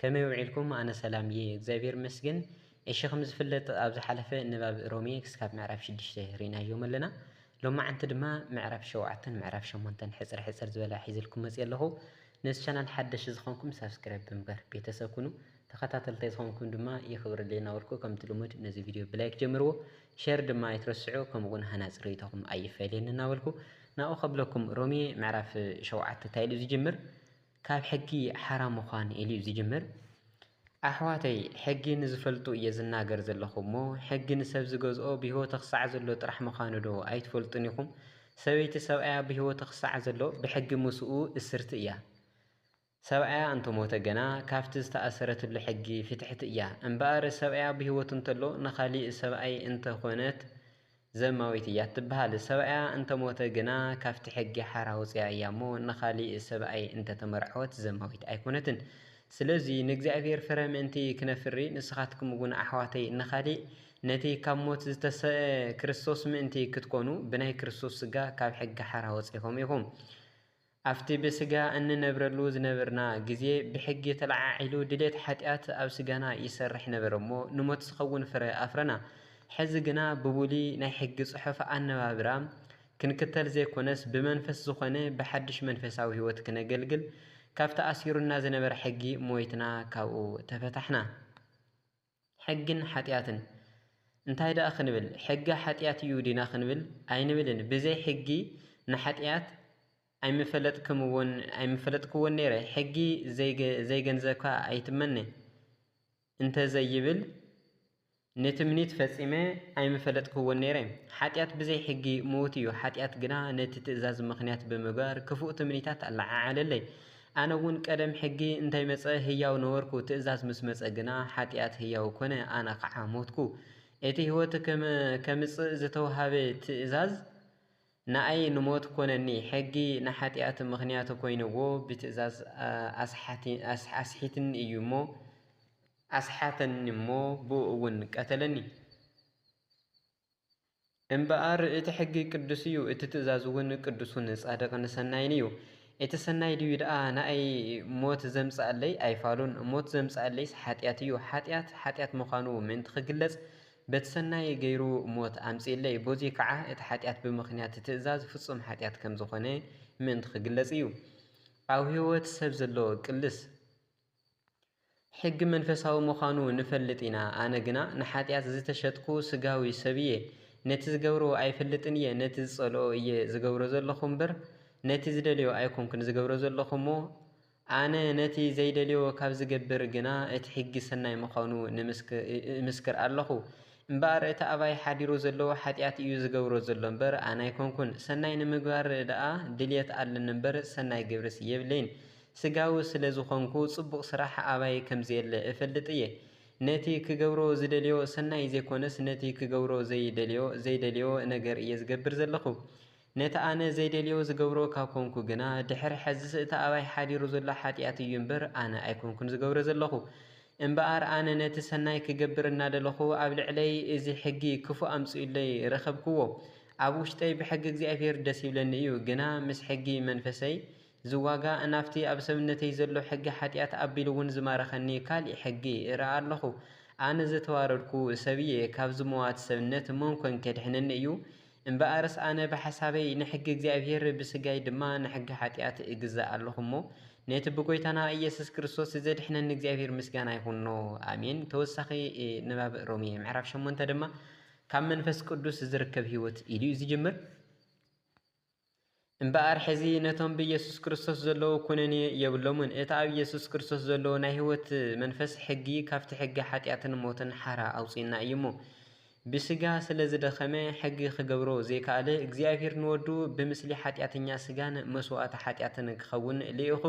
ከመይ ውዒልኩም ኣነ ሰላም እየ እግዚኣብሔር ይመስገን እሺ ከምዝፍለጥ ኣብ ዝሓለፈ ንባብ ሮሜ ክስካብ ምዕራፍ ሽዱሽተ ሪእናዮም ኣለና ሎማዓንቲ ድማ ምዕራፍ ሸውዓተን ምዕራፍ ሸሞንተን ሕጽር ሕጽር ዝበለ ኣሒዘልኩም መጽየ ኣለኹ ነዚ ቻናል ሓደሽ ዝኾንኩም ሳብስክራይብ ብምግባር ቤተሰብ ኩኑ ተኸታተልታይ ዝኾንኩም ድማ የኽብረለይ እናበልኩ ከምቲ ልሙድ ነዚ ቪድዮ ብላይክ ጀምርዎ ሸር ድማ ኣይትረስዑ ከምኡ እውን ሃናጽ ርእይቶኹም ኣይፈለየኒ እናበልኩ ናብኡ ከብለኩም ሮሜ ምዕራፍ ሸውዓተ እንታይ ኢሉ ዝጅምር ካብ ሕጊ ሓራ ምዃን ኢሉ'ዩ ዝጅምር። ኣሕዋተይ ሕጊ ንዝፈልጡ እየ ዝናገር ዘለኹ እሞ ሕጊ ንሰብ ዝገዝኦ ብህይወተ ክሳዕ ዘሎ ጥራሕ ምዃኑዶ ኣይትፈልጡን ኢኹም? ሰበይቲ ሰብኣያ ብህይወተ ክሳዕ ዘሎ ብሕጊ ምስኡ እስርቲ እያ። ሰብኣያ እንተሞተ ግና ካብቲ ዝተኣሰረትሉ ሕጊ ፍትሕቲ እያ። እምበኣር ሰብኣያ ብህይወቱ እንተሎ ንኻሊእ ሰብኣይ እንተኾነት ዘማዊት እያ እትበሃል። ሰብኣያ እንተ ሞተ ግና ካብቲ ሕጊ ሓራ ወጺኣ እያ እሞ ንኻልእ ሰብኣይ እንተ ተመርዓወት ዘማዊት ኣይኰነትን። ስለዚ ንእግዚኣብሄር ፍረ ምእንቲ ክነፍሪ ንስኻትኩም እውን ኣሕዋተይ ንኻልእ ነቲ ካብ ሞት ዝተሰእአ ክርስቶስ ምእንቲ ክትኰኑ ብናይ ክርስቶስ ስጋ ካብ ሕጊ ሓራ ወጺእኩም ኢኹም። ኣብቲ ብስጋ እንነብረሉ ዝነበርና ግዜ ብሕጊ ተለዓዒሉ ድሌት ሓጢኣት ኣብ ስጋና ይሰርሕ ነበረ እሞ ንሞት ዝኸውን ፍረ ኣፍረና። ሕዚ ግና ብብሉይ ናይ ሕጊ ጽሑፍ ኣነባብራ ክንክተል ዘይኮነስ ብመንፈስ ዝኾነ ብሓድሽ መንፈሳዊ ሕይወት ክነገልግል ካብቲ ኣሲሩና ዝነበረ ሕጊ ሞይትና ካብኡ ተፈታሕና። ሕግን ሓጢኣትን እንታይ ደኣ ክንብል ሕጊ ሓጢኣት እዩ ዲና ክንብል ኣይንብልን ብዘይ ሕጊ ንሓጢኣት ኣይምፈለጥክምዎን ኣይምፈለጥክዎን ነይረ ሕጊ ዘይገንዘብካ ኣይትመነ እንተዘይብል ንትምኒት ፈጺመ ኣይምፈለጥክዎን ነይረ ሓጢኣት ብዘይ ሕጊ ምዉት እዩ ሓጢኣት ግና ነቲ ትእዛዝ ምኽንያት ብምግባር ክፉእ ትምኒታት ኣለዓዓለለይ ኣነ እውን ቀደም ሕጊ እንታይ መጸ ህያው ነበርኩ ትእዛዝ ምስ መጸ ግና ሓጥያት ህያው ኮነ ኣነ ኸዓ ሞትኩ። እቲ ሕይወት ከምጽእ ዝተውሃበ ትእዛዝ ንኣይ ንሞት ኮነኒ ሕጊ ንሓጥያት ምኽንያት ኮይንዎ ብትእዛዝ ኣስሒትኒ እዩ እሞ ኣስሓተኒ እሞ ብእኡ እውን ቀተለኒ። እምበኣር እቲ ሕጊ ቅዱስ እዩ፣ እቲ ትእዛዝ እውን ቅዱሱን ጻድቕን ሰናይን እዩ። እቲ ሰናይ ድዩ ደኣ ንኣይ ሞት ዘምጽኣለይ? ኣይፋሉን። ሞት ዘምጽኣለይስ ሓጢኣት እዩ። ሓጢኣት ሓጢኣት ምዃኑ ምእንቲ ኺግለጽ፣ በቲ ሰናይ ገይሩ ሞት ኣምጺኡለይ። በዙይ ከዓ እቲ ሓጢኣት ብምኽንያት ትእዛዝ ፍጹም ሓጢኣት ከም ዝኾነ ምእንቲ ኺግለጽ እዩ። ኣብ ሕይወት ሰብ ዘሎ ቅልስ። ሕጊ መንፈሳዊ ምዃኑ ንፈልጥ ኢና፣ ኣነ ግና ንሓጢኣት ዝተሸጥኩ ስጋዊ ሰብ እየ። ነቲ ዝገብሮ ኣይፈልጥን እየ፣ ነቲ ዝጸልኦ እየ ዝገብሮ ዘለኹ እምበር፣ ነቲ ዝደልዮ ኣይኮንኩን ዝገብሮ ዘለኹ እሞ፣ ኣነ ነቲ ዘይደልዮ ካብ ዝገብር ግና እቲ ሕጊ ሰናይ ምዃኑ እምስክር ኣለኹ። እምበኣር እቲ ኣባይ ሓዲሩ ዘሎ ሓጢኣት እዩ ዝገብሮ ዘሎ እምበር፣ ኣነ ኣይኮንኩን። ሰናይ ንምግባር ደኣ ድልየት ኣለኒ እምበር፣ ሰናይ ግብርስ የብለይን። ስጋዊ ስለ ዝዀንኩ ጽቡቕ ስራሕ ኣባይ ከም ዘየለ እፈልጥ እየ። ነቲ ክገብሮ ዝደልዮ ሰናይ ዘይኰነስ ነቲ ክገብሮ ዘይደልዮ ዘይደልዮ ነገር እየ ዝገብር ዘለኹ። ነቲ ኣነ ዘይደልዮ ዝገብሮ ካብ ኰንኩ ግና ድሕሪ ሕዝስ እቲ ኣባይ ሓዲሩ ዘሎ ሓጢኣት እዩ እምበር ኣነ ኣይኰንኩን ዝገብሮ ዘለኹ። እምበኣር ኣነ ነቲ ሰናይ ክገብር እናደለኹ ኣብ ልዕለይ እዚ ሕጊ ክፉእ ኣምጺኡለይ ረኸብክዎ። ኣብ ውሽጠይ ብሕጊ እግዚኣብሄር ደስ ይብለኒ እዩ ግና ምስ ሕጊ መንፈሰይ ዝዋጋ ናብቲ ኣብ ሰብነተይ ዘሎ ሕጊ ሓጢኣት ኣቢሉ ውን ዝማረኸኒ ካሊእ ሕጊ እርኣ ኣለኹ። ኣነ ዝተዋረድኩ ሰብ እየ፣ ካብዚ መዋቲ ሰብነት መን ኮን ኬድሕነኒ እዩ? እምበኣርስ ኣነ ብሓሳበይ ንሕጊ እግዚኣብሄር ብስጋይ ድማ ንሕጊ ሓጢኣት እግዛእ ኣለኹ እሞ ነቲ ብጎይታና ኢየሱስ ክርስቶስ ዜድሕነኒ እግዚኣብሄር ምስጋና ይኹኖ። ኣሜን። ተወሳኺ ንባብ ሮሜ ምዕራፍ ሸሞንተ ድማ ካብ መንፈስ ቅዱስ ዚርከብ ህይወት ኢሉ እዩ ዚጅምር። እምበኣር ሕዚ ነቶም ብኢየሱስ ክርስቶስ ዘለዉ ኩነኔ የብሎምን። እቲ ኣብ ኢየሱስ ክርስቶስ ዘሎ ናይ ሕይወት መንፈስ ሕጊ ካብቲ ሕጊ ሓጢኣትን ሞትን ሓራ ኣውጽኡና እዩ እሞ። ብሥጋ ስለ ዝደኸመ ሕጊ ክገብሮ ዘይከኣለ እግዚኣብሔር ንወዱ ብምስሊ ሓጢኣተኛ ሥጋን መሥዋዕቲ ሓጢኣትን ክኸውን ልኢኹ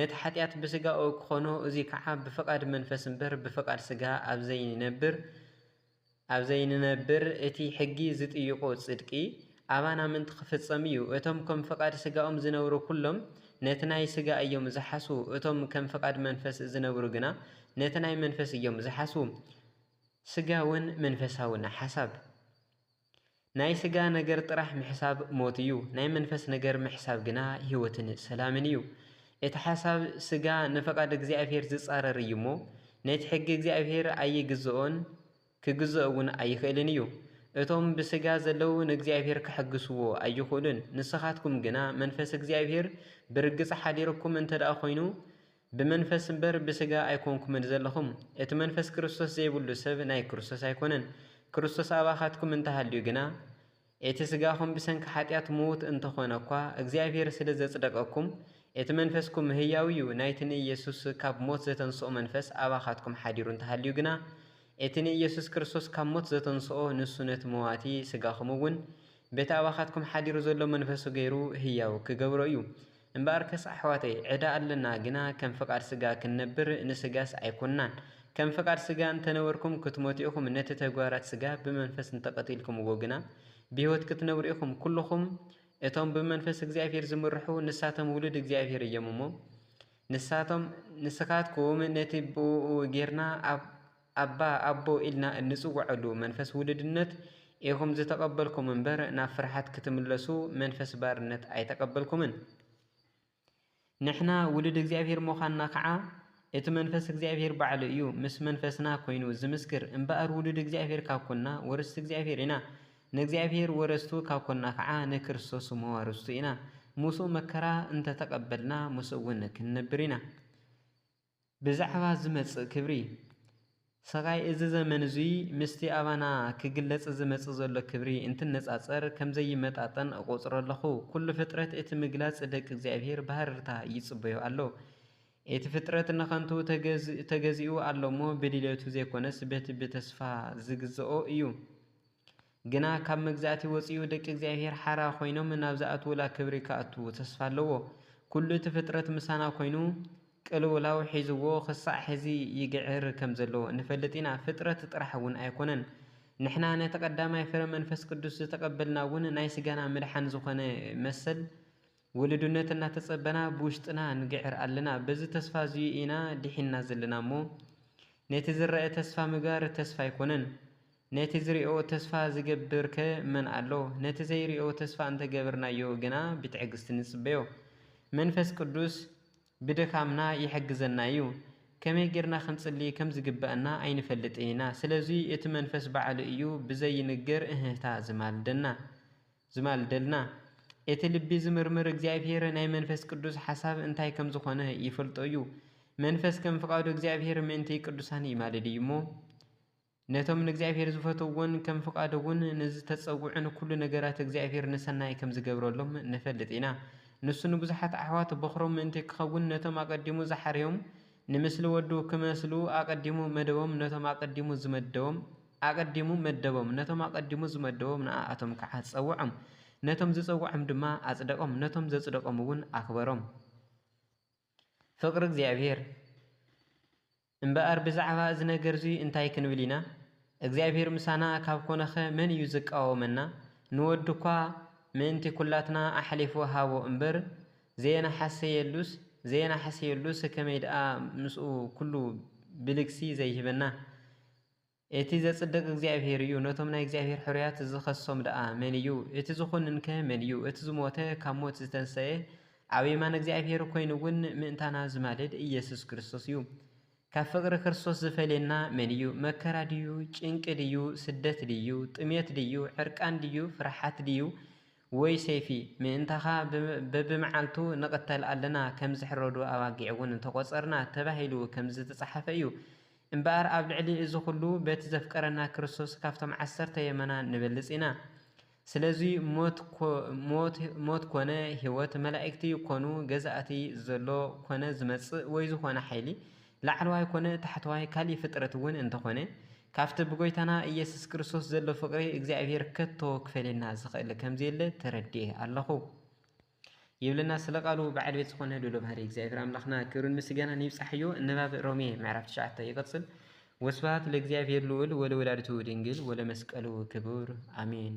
ነቲ ሓጢኣት ብሥጋኡ ክኾኖ እዙይ ከዓ ብፍቓድ መንፈስ እምበር ብፍቓድ ሥጋ ኣብዘይነብር ኣብ ዘይንነብር እቲ ሕጊ ዝጥይቆ ጽድቂ ኣባና ምንቲ ክፍጸም እዩ። እቶም ከም ፍቓድ ስጋኦም ዝነብሩ ኩሎም ነቲ ናይ ስጋ እዮም ዝሓስዉ፣ እቶም ከም ፍቓድ መንፈስ ዝነብሩ ግና ነቲ ናይ መንፈስ እዮም ዝሓስዉ። ስጋውን መንፈሳውን ሓሳብ። ናይ ስጋ ነገር ጥራሕ ምሕሳብ ሞት እዩ፣ ናይ መንፈስ ነገር ምሕሳብ ግና ሕይወትን ሰላምን እዩ። እቲ ሓሳብ ስጋ ንፍቓድ እግዚኣብሔር ዝጻረር እዩ እሞ፣ ነቲ ሕጊ እግዚኣብሔር ኣይግዝኦን ክግዝኦ'ውን ኣይኽእልን እዩ። እቶም ብስጋ ዘለዉ ንእግዚኣብሔር ከሐግስዎ ኣይኽእሉን፣ ንስኻትኩም ግና መንፈስ እግዚኣብሔር ብርግጽ ሓዲርኩም እንተደኣ ኮይኑ ብመንፈስ እምበር ብሥጋ ኣይኮንኩምን ዘለኹም፣ እቲ መንፈስ ክርስቶስ ዘይብሉ ሰብ ናይ ክርስቶስ ኣይኮነን፣ ክርስቶስ ኣባኻትኩም እንተ ሃልዩ ግና፣ እቲ ሥጋኹም ብሰንኪ ኃጢኣት ምዉት እንተ ኾነ እኳ፣ እግዚኣብሔር ስለ ዘጽደቀኩም፣ እቲ መንፈስኩም ህያው እዩ፣ ናይቲ ንኢየሱስ ካብ ሞት ዘተንሥኦ መንፈስ ኣባኻትኩም ኃዲሩ እንተ ሃልዩ ግና፣ እቲ ንኢየሱስ ክርስቶስ ካብ ሞት ዘተንሥኦ ንሱ ነቲ መዋቲ ሥጋኹም'ውን በቲ ኣባኻትኩም ኃዲሩ ዘሎ መንፈሱ ገይሩ ህያው ኪገብሮ እዩ። እምበኣርከስ ኣሕዋተይ፣ ዕዳ ኣለና፣ ግና ከም ፍቓድ ሥጋ ክንነብር፣ ንሥጋስ ኣይኮንናን። ከም ፍቓድ ሥጋ እንተ ነበርኩም፣ ክትሞቱ ኢኹም፣ ነቲ ተግባራት ሥጋ ብመንፈስ እንተ ቐቲልኩምዎ ግና፣ ብሕይወት ክትነብሩ ኢኹም። ኵልኹም እቶም ብመንፈስ እግዚኣብሔር ዚምርሑ፣ ንሳቶም ውሉድ እግዚኣብሔር እዮም እሞ፣ ንሳቶም ንስኻትኩም ነቲ ብእኡ ጌርና ኣብ። ኣባ ኣቦ ኢልና እንጽውዐሉ መንፈስ ውሉድነት ኢኹም ዝተቐበልኩም እምበር ናብ ፍርሓት ክትምለሱ መንፈስ ባርነት ኣይተቐበልኩምን። ንሕና ውሉድ እግዚኣብሔር ምዃንና ከዓ እቲ መንፈስ እግዚኣብሔር ባዕሉ እዩ ምስ መንፈስና ኮይኑ ዝምስክር። እምበኣር ውሉድ እግዚኣብሔር ካብ ኮንና ወረስቲ እግዚኣብሔር ኢና። ንእግዚኣብሔር ወረስቱ ካብ ኮንና ከዓ ንክርስቶስ መዋርስቱ ኢና። ምስኡ መከራ እንተተቐበልና ምስኡ እውን ክንነብር ኢና። ብዛዕባ ዚመጽእ ክብሪ። ሰቓይ እዚ ዘመን እዙይ ምስቲ ኣባና ኪግለጽ ዚመጽእ ዘሎ ክብሪ እንትነጻጸር ከም ዘይመጣጠን እቖጽሮ ኣለኹ። ኩሉ ፍጥረት እቲ ምግላጽ ደቂ እግዚኣብሔር ብሃረርታ ይጽበዮ ኣሎ። እቲ ፍጥረት ንኸንቱ ተገዚኡ ኣሎ እሞ ብድሌቱ ዘይኮነስ በቲ ብተስፋ ዚግዝኦ እዩ። ግና ካብ መግዛእቲ ወጺኡ ደቂ እግዚኣብሔር ሓራ ኮይኖም ናብ ዝኣትዉላ ክብሪ ክኣቱ ተስፋ ኣለዎ። ኩሉ እቲ ፍጥረት ምሳና ኮይኑ ቅልውላው ሒዝዎ ክሳዕ ሕዚ ይግዕር ከም ዘሎ ንፈልጥ ኢና። ፍጥረት ጥራሕ እውን ኣይኮነን። ንሕና ነቲ ቀዳማይ ፍረ መንፈስ ቅዱስ ዝተቀበልና እውን ናይ ስጋና ምድሓን ዝኾነ መሰል ውሉድነት እናተጸበና ብውሽጥና ንግዕር ኣለና። በዚ ተስፋ እዚዩ ኢና ድሒንና ዘለና እሞ ነቲ ዝረኣ ተስፋ ምግባር ተስፋ ኣይኮነን። ነቲ ዚርኦ ተስፋ ዚገብር'ከ መን ኣሎ? ነቲ ዘይርኦ ተስፋ እንተ ገብርናዮ ግና ብትዕግስቲ ንጽበዮ። መንፈስ ቅዱስ ብድኻምና ይሕግዘና እዩ። ከመይ ጌርና ክንጽሊ ከም ዚግብኣና ኣይንፈልጥን ኢና። ስለዙይ እቲ መንፈስ ባዕሉ እዩ ብዘይንገር እህህታ ዚማልደልና። እቲ ልቢ ዚምርምር እግዚኣብሔር ናይ መንፈስ ቅዱስ ሓሳብ እንታይ ከም ዝኾነ ይፈልጦ እዩ። መንፈስ ከም ፍቓዱ እግዚኣብሔር ምእንቲ ቅዱሳን ይማልድ እዩ'ሞ፣ ነቶም ንእግዚኣብሔር ዝፈተውዎን ከም ፍቓዱውን ንዝተጸውዑን ኩሉ ነገራት እግዚኣብሔር ንሰናይ ከም ዝገብረሎም ንፈልጥ ኢና። ንሱ ንብዙሓት ኣሕዋት በዅሮም ምእንቲ ክኸውን ነቶም ኣቐዲሙ ዝሓረዮም ንምስሊ ወዱ ክመስሉ ኣቐዲሙ መደቦም ነቶም ኣቐዲሙ ዝመደቦም ኣቐዲሙ መደቦም ነቶም ኣቐዲሙ ዝመደቦም ንኣኣቶም ከኣ ጸውዖም ነቶም ዝጸውዖም ድማ ኣጽደቖም ነቶም ዘጽደቖምውን ኣኽበሮም። ፍቕሪ እግዚኣብሔር። እምበኣር ብዛዕባ እዚ ነገር'ዚ እንታይ ክንብል ኢና? እግዚኣብሄር ምሳና ካብ ኰነኸ መን እዩ ዚቃወመና? ንወዱ እኳ ምእንቲ ኵላትና ኣሕሊፉ ሃቦ እምበር፣ ዘየነሓሰየሉስ ዘየነሓሰየሉስ ከመይ ደኣ ምስኡ ኵሉ ብልግሲ ዘይህበና? እቲ ዘጽድቕ እግዚኣብሄር እዩ፣ ነቶም ናይ እግዚኣብሄር ሕሩያት ዚኸሶም ደኣ መን እዩ? እቲ ዚዅንንከ መን እዩ? እቲ ዝሞተ፣ ካብ ሞት ዝተንስኤ፣ ኣብ የማን እግዚኣብሄር ኰይኑውን ምእንታና ዚማልድ ኢየሱስ ክርስቶስ እዩ። ካብ ፍቕሪ ክርስቶስ ዚፈልየና መን እዩ? መከራ ድዩ? ጭንቂ ድዩ? ስደት ድዩ? ጥሜት ድዩ? ዕርቃን ድዩ? ፍርሓት ድዩ? ወይ ሰይፊ ምእንታኻ በብመዓልቱ ንቕተል ኣለና፣ ከም ዝሕረዱ ኣባጊዕ እውን ተቖጸርና ተባሂሉ ከም ዝተጻሕፈ እዩ። እምበኣር ኣብ ልዕሊ እዚ ኹሉ በቲ ዘፍቀረና ክርስቶስ ካብቶም ዓሰርተ የመና ንበልጽ ኢና። ስለዚ ሞት ኮነ ሕይወት፣ መላእክቲ ኮኑ ገዛእቲ፣ ዘሎ ኮነ ዝመጽእ ወይ ዝኾነ ሓይሊ ላዕለዋይ ኮነ ታሕተዋይ ካልእ ፍጥረት እውን እንተኾነ፣ ካብቲ ብጎይታና ኢየሱስ ክርስቶስ ዘሎ ፍቕሪ እግዚኣብሔር ከቶ ክፈልየና ዝኸእል ከምዘየለ ተረዲኤ ኣለኹ። ይብለና ስለ ቃሉ በዓል ቤት ዝኾነ ልዑለ ባህሪ እግዚኣብሔር ኣምላኽና ክብርን ምስጋናን ይብጻሕዮ። ንባብ ሮሜ ምዕራፍ ትሽዓተ ይቕጽል። ወስብሐት ለእግዚኣብሔር ልዑል ወለወላዲቱ ድንግል ወለመስቀሉ ክቡር አሜን።